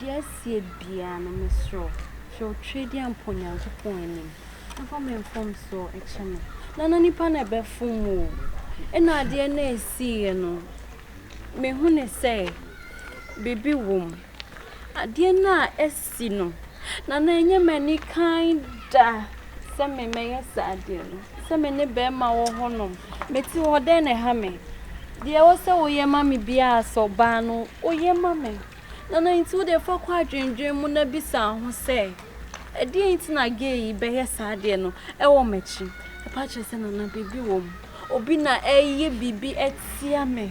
Deɛ ɛseɛ biara no mesrɛ wo hwɛ wo twedeɛ mpo Nyankopɔn anim na fa me mfomsoɔ kyɛ me na na nipa na ɛbɛfom wo o ɛna adeɛ na ɛsiiɛ no mehunu sɛ biribi wom adeɛ no a asi no na na ɛnyɛ m'ani kan da Sɛ me mɛyɛ saa deɛ no. Sɛ me ne bɛrima wɔ hɔnom. Mete hɔ dɛn na ɛha me. Deɛ ɛwɔ sɛ woyɛ ma me biara sɛ ɔbaa no woyɛ ma me. Na na nti wodeɛ fa kɔ adwendwen mu na bisa ho sɛ ɛdeɛn nti na gay yi bɛyɛ saa adeɛ no ɛwɔ m'akyi. Ɛpa kyerɛ sɛ nana biribi wɔ mu. Obi na ɛreyɛ biribi atia me.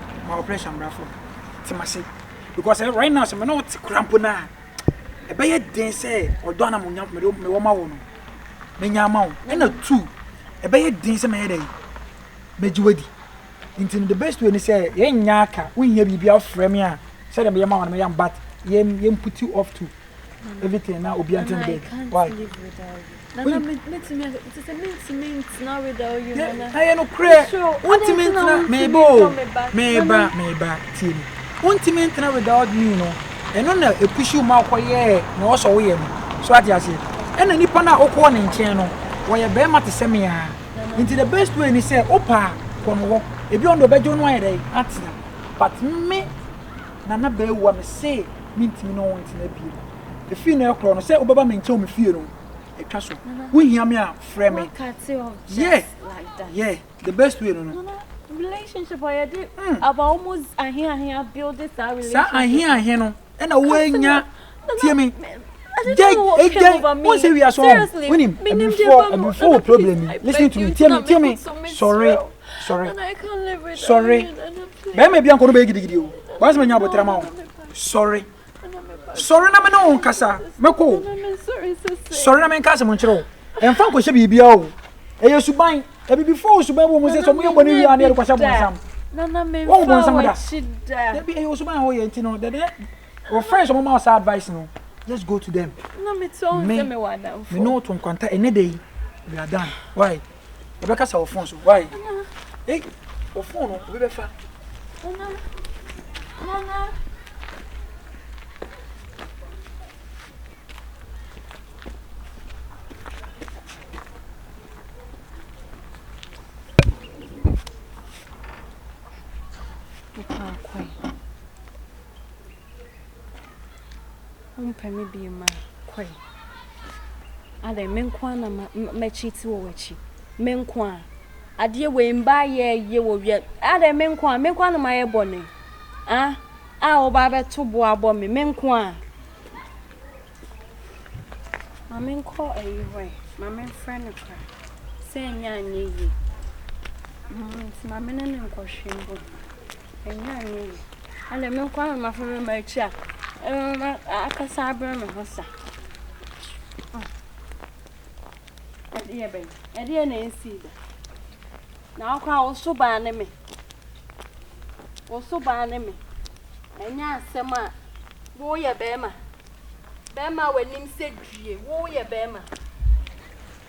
ma ɔprɛhyɛ mbrafo no tse m'ase because eh right now sɛ me na ɔtse kora mpo no a ɛbɛyɛ den sɛ ɔdɔ a na mo nya mewɔ ma wo no menya ama wo ɛna two ɛbɛyɛ den sɛ mɛyɛ dɛ mɛgye wadi nti no the best way ni sɛ yɛnyɛ aka wohia biribi afrɛ me a sɛdeɛ meyɛ ma wo no mɛyɛ but yɛmputi off to everything na obi antena bed why ɛyɛ no korɛ wontumi ntena meba o meba meba tie me wontumi ntena without me no ɛno na ɛpushi wo ma wokɔyɛɛ na ɔsɔ woyɛ no so ate aseɛ ɛna nipa no a wokɔɔ ne nkyɛn no wɔyɛ bɛrima te sɛ me a nti the best way ni sɛ wopaa kɔ no hɔ ebi ɔno ɔbɛgye wo no ayɛ dɛ atena but me Nana Bawuah, mese mentumi ne wo ntena bio. Ɛfiri nnɛ rekorɔ no, sɛ wobɛba me nkyɛn wɔ me fie no, ɛtwa so. Wohia me a, frɛ me. Yeah, yeah, the best way no no. Saa ahe ahe no na woanya, tie me, dɛn, dɛn, wohu sɛ wiase hɔ, wonim, abufuo, abufuo wɔ problem yi, listen to me, tie me, tie me, sɔre. sɔre sɔre bɛrima bi ankɔ no bɛyɛ gidigidi o wɔn asɛm nya abotire ma wo sɔre sɔre na me ne wo nkasa mɛkɔ o sɔre na me nka asɛm nkyerɛ wo ɛmfa nkɔhyɛ biribi o ɛyɛ suban abibifo wo suban wɔ mu sɛ sɛ ɔmo yɛ bɔ ne wie a ne yɛde kɔhyɛ bɔnsam wɔn bɔnsam da dabi ɛyɛ suban a wɔyɛ nti no dɛdɛ wɔ friends ɔmo ma wɔ saa advice no just go to them me me ne wo to nkwanta ɛnɛ de yi we are done why. yɛbɛkasa wɔ fon so why ei wɔ fon no obi bɛfa Wompɛ me bio ma kɔe. Adɛn, me nko ara na mɛkyiti wɔ w'akyi? Me nko ara. Adeɛ wei mba yɛ yie wɔ wia. Adɛn, me nko ara, me nko ara na mayɛ bɔne. Ah, a woba abɛto bo abɔ me, me nko ara. Ma menkɔ ayi hɔ ɛ, ma memfrɛ no kora. Sɛ ɛnyɛ anyɛ yie. Mm, nti ma me ne no nkɔhwe mbom. Nnyɛ me yi. Ɛnde me nkoa na mafa me mma akyi a ɛbɛma akasa abrɛ me ho sa. Ɛdeɛ bɛn? Ɛdeɛ na ɛnsii da. Na wo koraa wo so baa ne me. Wo so baa ne me. Ɛnyɛ asɛm a woyɛ bɛrima. Bɛrima a w'anim sɛ due. Woyɛ bɛrima.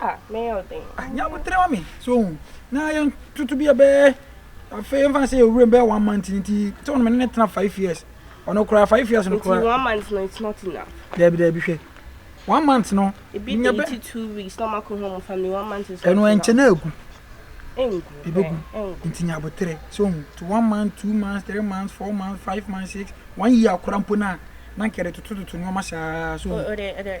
Ah, mɛyɛ wo den. Ah, nya botere ma me, so ohu. Na yɛn toto bi ɛbɛyɛ, afei yɛn fa se yɛ wuram bɛyɛ one month ni ti, sɛ wɔn mene ne tena five years. Ɔno koraa five years no koraa. Nti one month no it's not enough. Dɛbi dɛbi hwɛ. One month no. Ebi de ti two weeks na ɔmo akɔ home family one month is not enough. Ɛno ɛnkyɛ na egu. Engu. Ebegu. Nti nya botere, so ohu. To one month, two months, three months, four months, five months, six, one year koraa mpo na, na nkɛde toto toto nneɛma saa, so. Ode ode.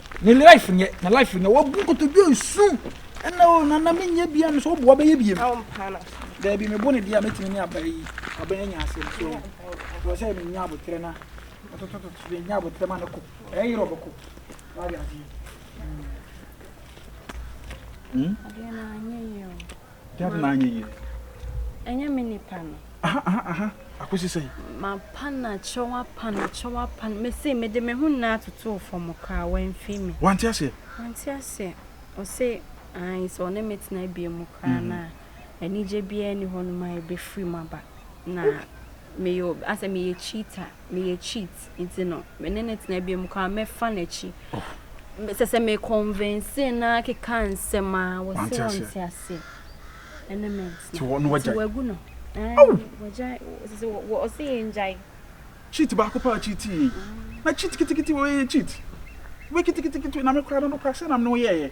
Ne life nyɛ na life nyɛ wabu nkotodwe nsu ɛna o nana me nyɛ bia no so boa bɛyɛ biem daabi me bo ne deɛ a mɛtumi ne aba yi aba yɛ nya asɛm so wɔ sɛ me nya abotrɛ na atotototo me nya abotrɛ ma no kɔ ɛyɛ yerɛ ɔbɛkɔ wade aseɛ hmm? Dad na anyɛ yie. Ɛnyɛ me nipa no. Aha aha aha akosi sɛn. Mapa no akyerɛ wapa no akyerɛ wapa no mese mede me ho nyinaa totoo fam koraa wamfiri me. Wante aseɛ. Wante aseɛ ɔse ae sɛ ɔne me tena bie mu koraa no a anigye biara ni hɔ nom a ɛbɛfiri mu aba na meyɛ asɛ meyɛ cheater. meyɛ cheat nti no me ne no tena bio mu koraa mɛfa n'akyi sɛ sɛ me convince no ara keka nsɛm a wɔse wɔnte ase ɛne me nti wagu no ɔse yɛ ngyae cheat baako paa cheat yie na cheat kitikiti wɔyɛ cheat wobɛ kitikiti na me koraa no no koraa sɛ nam ne wo yɛɛyɛ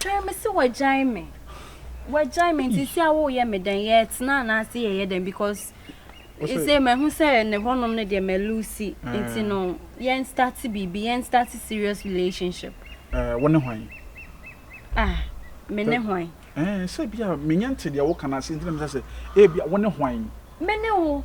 Hwɛ me se wagyae me wagyae me nti si a woyɛ me dɛn yɛtena anaase yɛyɛ dɛn because ɛsɛ mahu sɛ ne hɔnom no deɛ malusi nti no yɛn start biribi yɛn start serious relationship wo ne hwan ah me ne hwan sɛ bia menyɛ nte deɛ woka no ase nti na mesɛ sɛ ebia wo ne hwan me ne wo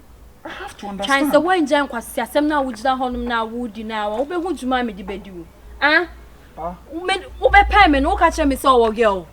Twan sɛ woangyae nkwaseasɛm no a wogyina hɔnom no a woredi no ara, wobɛhu dwuma a mede bɛdi wo. Ah, wobɛpɛe me no, woka kyerɛ me sɛ ɔwɔ girl.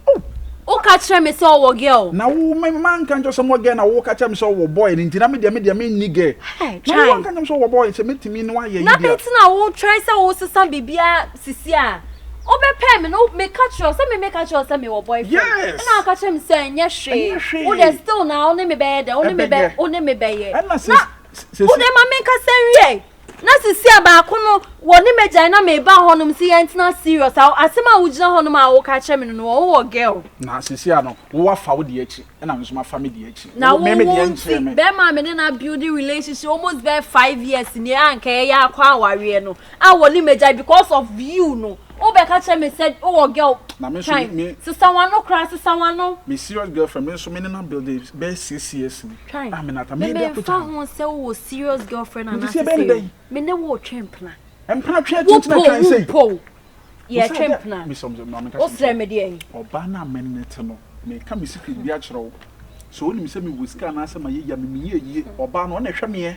Woka kyerɛ me sɛ ɔwɔ girl. Na wo me manka nkyerɛ sɛ ɔwɔ girl na woka kyerɛ me sɛ ɔwɔ boy no nti na me deɛ me deɛ me nni girl. Na wo anka kyerɛ me sɛ ɔwɔ boy sɛ mɛtumi ne wayɛ yi deɛ. Na bɛnti na wo try sɛ wo sesa biribiara Sisi a, wo bɛ pɛɛ me no, me ka kyerɛ wo sɛ me me ka kyerɛ wo sɛ me wɔ boyfriend, ɛna wo ka kyerɛ me sɛ ɛnyɛ hwee, wo dɛ still na wo ne me bɛyɛ dɛ, wo ne me bɛ, wo ne me bɛyɛ, na wo dɛ ma me nkasa nwie, na sisi a baako no wɔ ne mɛ gyae na me ba hɔ nom sɛ yɛn tena serious, a asɛm a wo gyina hɔ nom a wo ka kyerɛ me no no wɔ wo wɔ girl. Na sisi a no, wo afa wo deɛ akyi, ɛna me nso ma fa me deɛ akyi, wo me me deɛ nkyerɛ me. Na wo wo nti, bɛɛma a me ne no a build relationship almost bɛɛ five years nie a nka yɛyɛ akɔ awareɛ no, a wɔ ne magyae because of you no wo bɛ ka kyerɛ me sɛ wo wɔ girl twan sesa wano koraa sesa wano. Me serious girlfriend me nso me ne no abuilde bɛyɛ six years ni twan a me nata me bɛ ko twan. Me me nfa ho sɛ wo wɔ serious girlfriend anaa sɛ sɛ me ne wo twe mpena. Mpena twe ati ntina twan sɛ. Wo po wo po yɛ twe mpena wo srɛ me deɛ. Ɔbaa no a me ne te no me ka me secret bi akyerɛ wo sɛ onim sɛ me wɔ sika anaa sɛ ma yɛ yie a me me yɛ yie ɔbaa no ɔna ɛhwɛ meɛ.